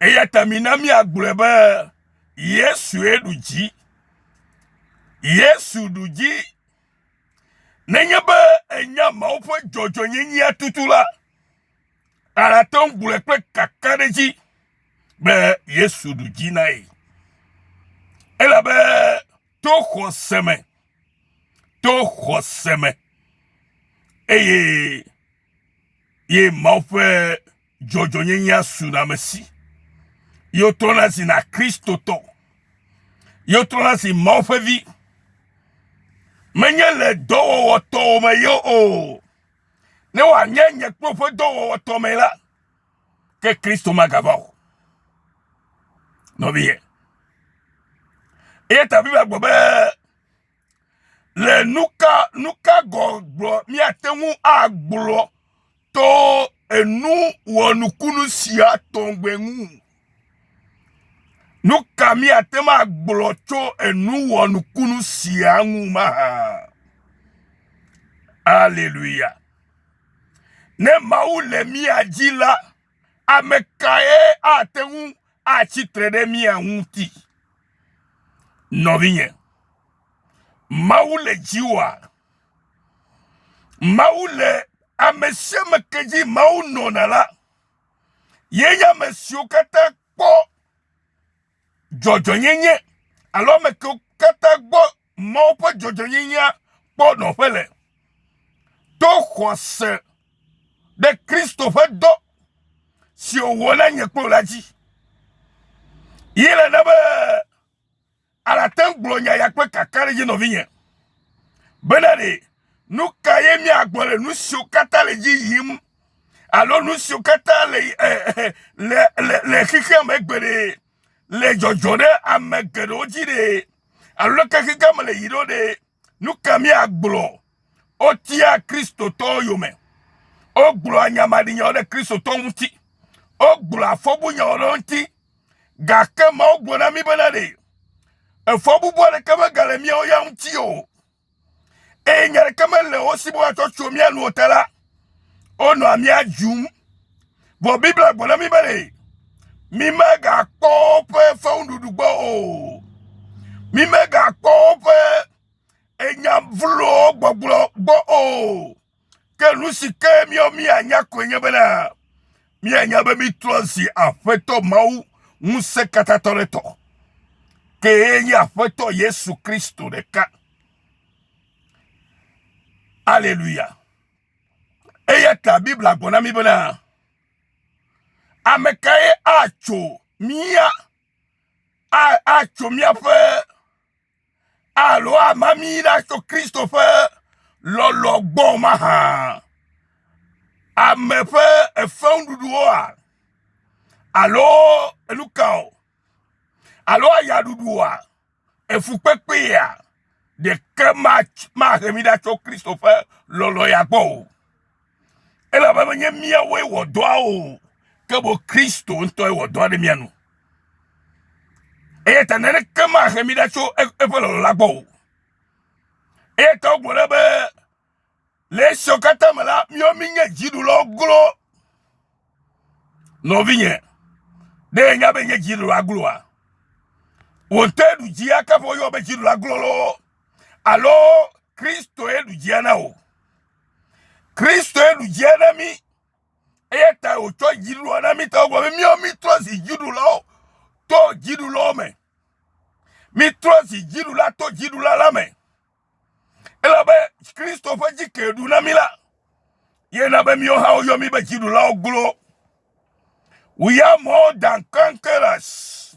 Eya ta mina míagblɔe be Yesue ɖu dzi. Yesu ɖu dzi. Nenye be enya mawo ƒe dzɔdzɔnyenyea tutu la, àte ŋu gblɔe kple kakaɖedzi be Yesu ɖu dzi na ye. Elabe to xɔse me, to xɔse me, eye ye Mawu ƒe dzɔdzɔnyenyea su le ame si. Ye wotrɔna si na Kristotɔ. Ye wotrɔna si Mawu ƒe vi. Menye le dɔwɔwɔ tɔwo me ye o. Ne wòanye nye kple woƒe dɔwɔwɔ tɔ me la, ke Kristo magava o. Nɔviye. Eye ta Biblia gblɔ be Le nuka nuka gɔgblɔ míate ŋu agblɔ to enu wɔnukunu sia tɔgbe ŋu? Nuka míate ŋu agblɔ tso enu wɔnukunu sia ŋu mahã? Aleluya! Ne Mawu le mía dzi la, ame kae ate ŋu atsi tre ɖe mía ŋuti? Nɔvinye, Mawu le dziwòa? Mawu le ame sia ame ke dzi Mawu nɔna la, ye nye ame siwo katã kpɔ dzɔdzɔnyenye alo ame kewo katã gbɔ. Mawu ƒe dzɔdzɔenyenyea kpɔ nɔƒe le to xɔse ɖe Kristo ƒe dɔ si wòwɔ na nye kple wò la dzi. Ye le na be alate ŋu gblɔ nya ya kple kakaɖedzi nɔvinye bena ɖe nu ka ye míagblɔ le nu siwo katã le dzi yim alo nu siwo katã le eh, eh, eh, le, le, le xexea me gbeɖe. le dzɔdzɔ ɖe ame geɖewo dzi ɖee alo ne kekeke me le yi ɖo ɖee, nu ka míagblɔ? Wotia Kristotɔwo yome. Wogblɔa nya maɖinyawo ɖe Kristotɔwo ŋuti. Wogblɔa fɔbunyawo ɖe wo ŋuti. Gake Mawu gblɔ na mí bena ɖe efɔbubu aɖeke megale míawo ya ŋuti o. eye nya ɖeke mele wo si be woatsɔ tso mía nu o ta la, wonɔa mía dzum. Vɔ Biblia gblɔ na mí be ɖe mímegakpɔ woƒe fewuɖuɖu gbɔ o. Mímegakpɔ woƒe enya vlowo gbɔgblɔ gbɔ o. Ke nu si ke míawo míanya koe nye bena míanya be mítrɔ zi Aƒetɔ Mawu ŋusẽkatãtɔ ɖe tɔ, kee nye Aƒetɔ Yesu Kristo ɖeka. Aleluya. Eya ta Biblia gblɔ na mí bena ame kae atso mía atso míaƒe alo ama mí ɖa tso Kristo ƒe lɔlɔ gbɔ mahã? Ame ƒe efeŋuɖuɖuwoa? Alo enu kawo? Alo ayaɖuɖuwoa? Efukpekpea? Ɖeke mahe mí ɖa tso Kristo ƒe lɔlɔ ya gbɔ o. elabe menye míawoe wɔ dɔa o, ke boŋ Kristo ŋutɔe wɔ dɔa ɖe mía nu. Eya ta naneke mahe mi ɖa tso eƒe lɔlɔ̃ la gbɔ o. Eya ta wogblɔ ɖe be le esiawo katã me la, míawo míenye dziɖulɔ glo. Nɔvinye, ɖe nya be nye dziɖulɔ agloa? Wò ŋutɔ eɖu dzi akaƒe woyɔ be dziɖulɔ glo loo alo Kristoe ɖu dzia na wò? Kristoe ɖu dzia na mí. Eya ta wòtsɔ dziɖuɖua na mí ta wògblɔ be míawo mítrɔ zi dziɖulawo to dziɖulawo me. Mítrɔ zi dziɖula to dziɖula la me. Elabe Kristo ƒe dzi ke ɖu na mí la, ye na be míwo hã woyɔ mí be dziɖulawo glo. We are more than conquerors.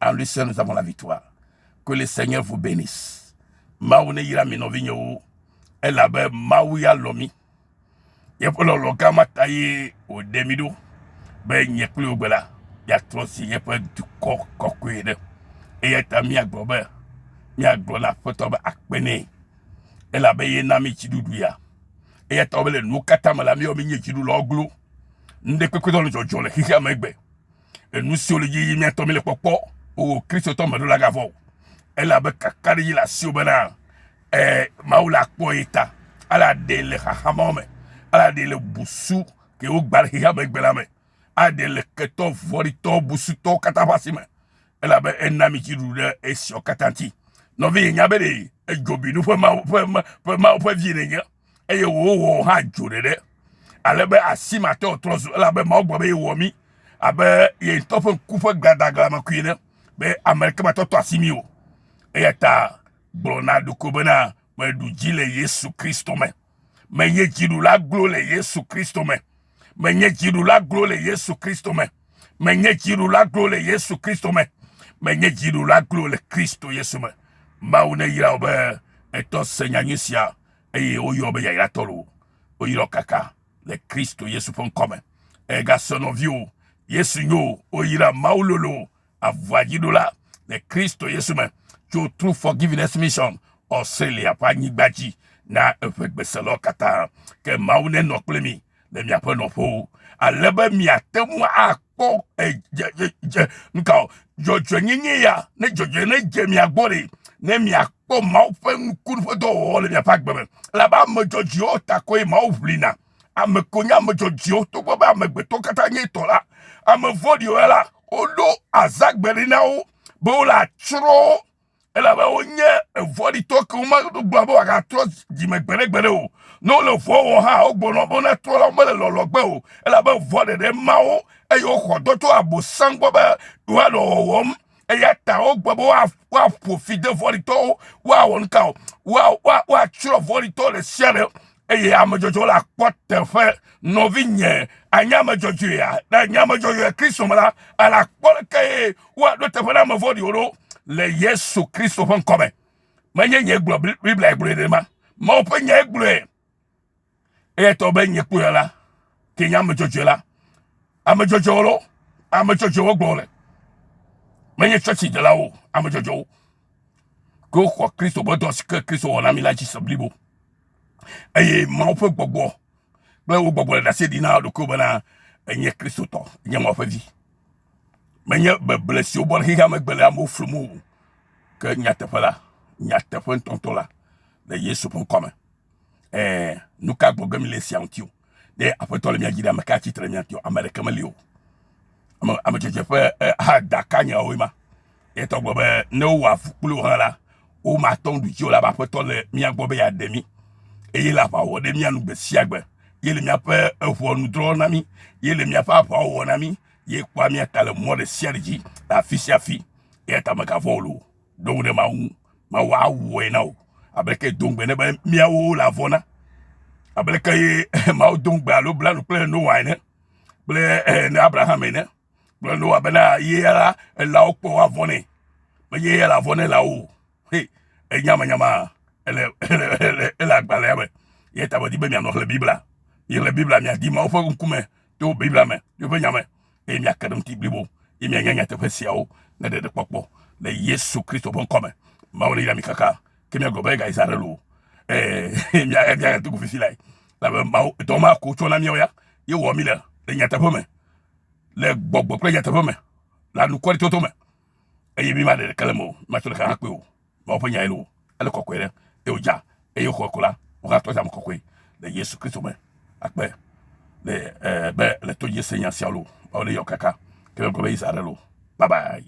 En Lucien, nous avons la victoire. Que le Seigneur vous bénisse. Mawu ne yra mi nɔvinyewo. Elabe Mawu ya lɔ mi. Yeƒe lɔlɔ gã ma ta ye wòɖe mi ɖo be nye kple wò gbe la yeatrɔ si yeƒe dukɔ kɔkɔe ɖe. Eya ta míagblɔ be míagblɔ na Aƒetɔ be akpe nɛ. Elabe ye na mi dziɖuɖu ya. Eya ta wòbe le nuwo katã me la, míewɔ mi nye dziɖulawo glo. Nuɖekpekpetɔ le dzɔdzɔ le xexea me egbe. Enu siwo le edzi yim mía ŋutɔ míele kpɔkpɔ o, Kristotɔ meɖola gavɔ o, elabe kakaɖedzi le asiwò bena eh, Mawu la kpɔ ye ta, ala ɖe le xaxa mawo me, ala ɖe le busu ke wogba le xexea me gbe la me, ala ɖe le ketɔ vɔ̃ɖitɔ busutɔwo katã ƒe asi me, elabe ena mi dziɖuɖu ɖe esiawo katã ŋuti. Nɔvi, nya be ɖe edzobinu ƒe Mawu ƒe, ƒe Mawu ƒe vi nènye. eye wòwɔ hã dzo ɖeɖe, ale be asi mate ŋu atrɔ zu, elabe Mawu gblɔ be yewɔ mí abe ye ŋutɔ ƒe ŋku ƒe gladaglamekui ene, be ame aɖeke mate ŋu atɔ asi mí o. Eya ta gblɔ na ɖokui bena, meɖu dzi le Yesu Kristo me. Menye dziɖula glo le Yesu Kristo me. Menye dziɖula glo le Yesu Kristo me. Menye dziɖula glo le Yesu Kristo me. Menye dziɖula glo le Kristo Yesu me. Mawu neyra wò be ètɔ se nyanyui sia. eye woyɔ wo be yayratɔwo. Woyra wo kaka le Kristo Yesu ƒe ŋkɔ me. Egasɔ nɔviwo, Yesu nyo, woyra Mawu lolo, avuadziɖola le Kristo Yesu me tso True Forgiveness Mission Australia ƒe anyigba dzi na eƒe gbeselɔ katã. Ke Mawu nenɔ kple mi. le miaƒe nɔƒewo, ale be miate ŋu akpɔ dze nukao dzɔdzɔenyenye ya, ne dzɔdzɔe ne dze mia gbɔ ɖe, ne miakpɔ Mawu ƒe nuku ƒe dɔwɔwɔ le miaƒe agbe me, elabe ame dzɔdzɔewo ta koe Mawu ʋlina. Ame ko nye ame dzɔdzɔewo, togbɔ be amegbetɔ katã nye etɔ la. Ame vɔ̃ɖiwo ya la, woɖo azãgbe ɖi na wo be wole atsrɔ̃ wo. elabe wonye vɔ̃ɖitɔ ke womeɖo gblɔ be wòagatrɔ dzi me gbeɖegbeɖe o. Ne wole vɔ̃ wɔ hã, wogblɔna be wona trɔ la wo mele lɔlɔ gbe o, elabe vɔ̃ ɖeɖe ma wo, eye woxɔ dɔ tso Abosam gbɔ be yewoanɔ wɔwɔm. Eya ta wogbe be woaƒo fi de vɔ̃ɖitɔwo, woawɔ nu ka o? Woatsrɔ̃ vɔ̃ɖitɔ ɖe sia ɖe eye ame dzɔdzɔe la kpɔ teƒe. Nɔvinye, ànye ame dzɔdzɔea? Ne ènye ame dzɔdzɔe Kristo me la, ala kpɔ leke woaɖo teƒe na ame vɔ̃ɖiwo ɖo le Yesu Kristo ƒe ŋkɔ me. Menye nye gblɔ Biblia gblɔe ɖe ma. Mawu ƒe nyae gblɔe. Eya tɔ be nye kpɔe la, ke nye ame dzɔdzɔe la. Ame dzɔdzɔewo lo, ame dzɔdzɔewo gblɔ le. Menye tsɔtsi delawo, ame dzɔdzɔewo. Ke woxɔ Kristo ƒe dɔ si ke Kristo wɔ na mi la dzi se blibo. eye Mawu ƒe gbɔgbɔ kple wo gbɔgbɔ le ɖase ɖi na wo ɖokuiwo bena enye Kristotɔ, enye Mawu ƒe vi. Menye beble si wobɔ ɖe xexea megbe le amewo flum o, ke nyateƒe la, nyateƒe ŋutɔŋutɔ la le Yesu ƒe ŋkɔ me. Ɛ̃, nu ka gbɔgblɔ mele esia ŋuti o? Ne Aƒetɔ le mia dzi ɖe ame ka tsitre mia ŋuti? Ame aɖeke meli o. Ame ame tsetse ƒe ha dakanyawoe ma. Ye tɔ gblɔ be ne wowɔ avu kpli wo hã la, womate ŋu ɖu dzi o elabe Aƒetɔ le mia gbɔ be yeaɖe mi eye le aʋa wɔ ɖe mia nu gbe sia gbe. Ye le miaƒe eŋɔnu drɔ̃ na mi. Ye le miaƒe aʋawo wɔ na mi. Ye kpɔa mia ta le mɔ ɖe sia ɖe dzi le afi sia afi. Eya ta megavɔ̃ o loo. ɖo ŋu ɖe Mawu ŋu. Mawu awɔe na wò. Ableke do ŋugbe ne be míawo le avɔ na? Ableke ye Mawu do ŋugbe alo bla nu kple Noa ene kple eh, ne Abraham ene kple Noa bena ye ya la elãwo kpɔ woavɔ nɛ. Menye ye le avɔ ne elãwo o. He, enyamanyama ele ele ele ele agbalẽa me. Ye ta medi be mianɔ xlẽ Biblia. Miexlẽ Biblia miadi Mawu ƒe ŋkume to Biblia me, yewo ƒe nya me. eye miake ɖe eŋuti blibo ye mianya nyateƒe siawo ne ɖeɖekpɔkpɔ le Yesu Kristo ƒe ŋkɔ me. Mawu neyra mi kaka ke miagblɔ be ega Israel o. Ee, mia mia yatu ku fifi lae. Labe Mawu dɔ ma ko tsɔ na miawo ya ye wɔ mi le le nyateƒe me, le gbɔgbɔ kple nyateƒe me, le anukwaretɔtɔ me eye mi ma ɖe ɖeke le me o, mi ma tsɔ ɖeka hã kpe o. Mawu ƒe nyae loo, ele kɔkɔe ɖe, eye wòdza, eye woxɔe ko la, wohã tɔa dze ame kɔkɔe le Yesu Kristo me. Akpe le e be le to dzi se nya sia lo, Mawu le yɔ kaka, ke megblɔ be Israel lo. Bye bye.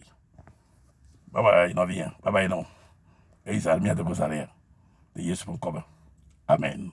Bye bye nɔvinya, bye bye nɔ. Israel mia de go zã ɖe ya. Le Yesu ƒe ŋkɔ me. Amen.